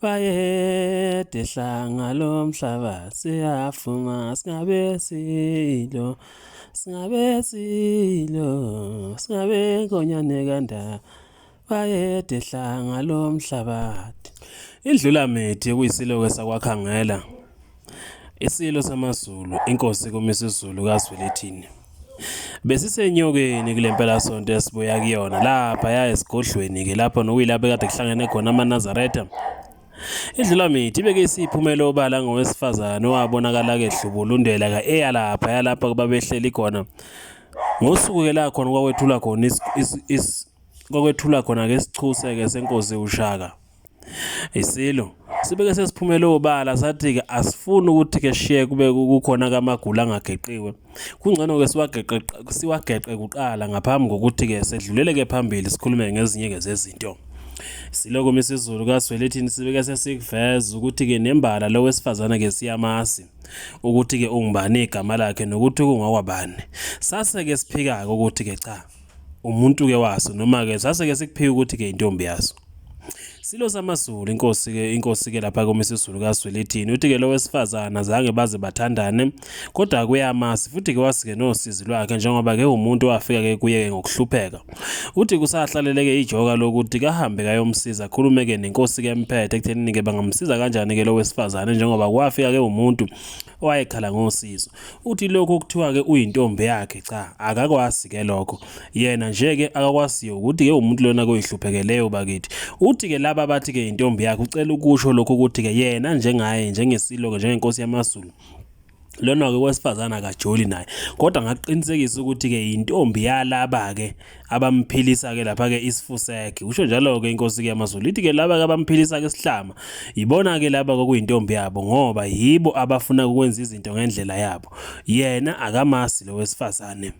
Bayede hlanga lomhlaba siyafuma singabe silo singabe silo singabe nkonyane kandaba bayede hlanga lomhlabathi indlulamithi kuyisiloke sakwakhangela Isilo samaZulu, iNkosi kuMisuzulu kaZwelithini. Besisenyokeni kule mpelasonto esibuya kuyona lapha ya esigodlweni-ke lapho nokuyilapho kade kuhlangene khona amaNazaretha. Idlulamithi ibeke isiphumela obala ngowesifazane owabonakala kehlubulundela ka-eya lapha yalapha kubabehleli khona ngosuku-ke la khona kwakwethulwa khona kwakwethulwa khona-ke isichuse-ke senkosi ushaka Isilo sibeke sesiphumele obala sathi-ke asifuni ukuthi-ke shiye kube kukhona kamagula angageqiwe kungcono-ke siwageqe siwageqe kuqala ngaphambi kokuthi-ke sedlulele-ke phambili sikhulume ngezinye-ke zezinto siloko misizulu kaswelithini sibeke sesikuveza ukuthi-ke nembala lo wesifazane-ke siyamazi ukuthi-ke ungubani igama lakhe nokuthi kungokwabani sase-ke siphika-ke ukuthi-ke cha umuntu ke waso noma ke sase ke sikuphiwa ukuthi ke intombi yaso Silo samaZulu inkosi ke inkosi ke lapha komisa isiZulu kaSwelithini uthi ke lo wesifazana zange baze bathandane kodwa kuyamasi futhi ke wasike nosizi lwakhe njengoba ke umuntu wafika ke kuye ke ngokuhlupheka uthi kusahlaleleke ijoka lokuthi kahambe kayomsiza akhulume ke nenkosi ke emphethe ekuthenini ke bangamsiza kanjani ke lo wesifazane njengoba kwafika ke umuntu owayekhala ngosizo Uthi lokho okuthiwa ke uyintombi yakhe cha akakwazi ke lokho yena nje ke akakwaziyo ukuthi ke umuntu lona koyihluphekeleyo bakithi uthi ke laba bathi ke intombi yakhe ucela ukusho lokho ukuthi ke yena njengaye njengesilo ke njengenkosi yamaZulu lona-ke wesifazane akajoli naye kodwa ngakuqinisekisa ukuthi-ke yintombi yalaba-ke abamphilisa-ke lapha-ke isifusege usho njalo-ke inkosi-ke yamazulu ithi-ke laba-ke abamphilisa-ke isihlama yibona-ke laba kwakuyintombi yabo ngoba yibo abafuna ukwenza izinto ngendlela yabo yena akamasi lo wesifazane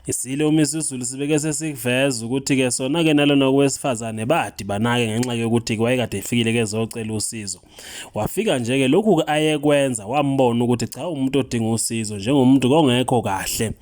Isilo uMisuzulu sibeke sesikuveza ukuthi-ke sona-ke nalona owesifazane badibana-ke ngenxa yokuthi wayekade efikile-ke ezocela usizo. Wafika nje ke lokhu ayekwenza wambona ukuthi cha umuntu odinga usizo njengomuntu kongekho kahle.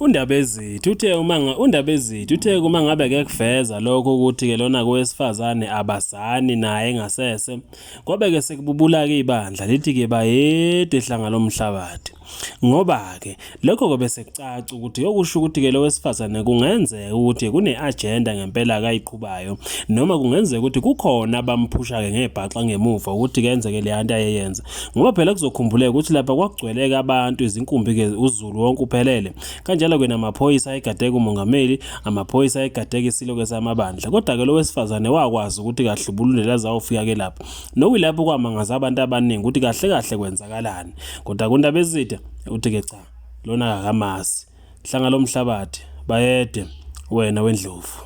UNdabezithi uthe uma uNdabezithi uthe uma ngabe ke kuveza lokho ukuthi ke lona kowesifazane abazani naye ngasese kwabe ke sekububula ke ibandla lithi ke bayede hlanga lomhlabathi Ngoba-ke, lokho-ke bese kucaca ukuthi okusho ukuthi-ke lo wesifazane kungenzeka ukuthi kune-ajenda ngempela akayiqhubayo noma kungenzeka ukuthi kukhona abamphusha-ke ngebhaxa ngemuva ukuthi kenzeke leya nto ayeyenza ngoba phela kuzokhumbuleka ukuthi lapha kwakugcweleke abantu izinkumbi-ke uzulu wonke uphelele kanjalo-ke namaphoyisa ayegadeka umongameli amaphoyisa ayegadeka isilo-ke samabandla kodwa-ke lo wesifazane wakwazi ukuthi kahlubulule lazawufika-ke lapho nokuyilapho kwamangaza abantu abaningi ukuthi kahle kahle kwenzakalani Kodwa kundaba ezide uthi ke cha lona akakamazi. Hlanga lomhlabathi bayede wena wendlovu.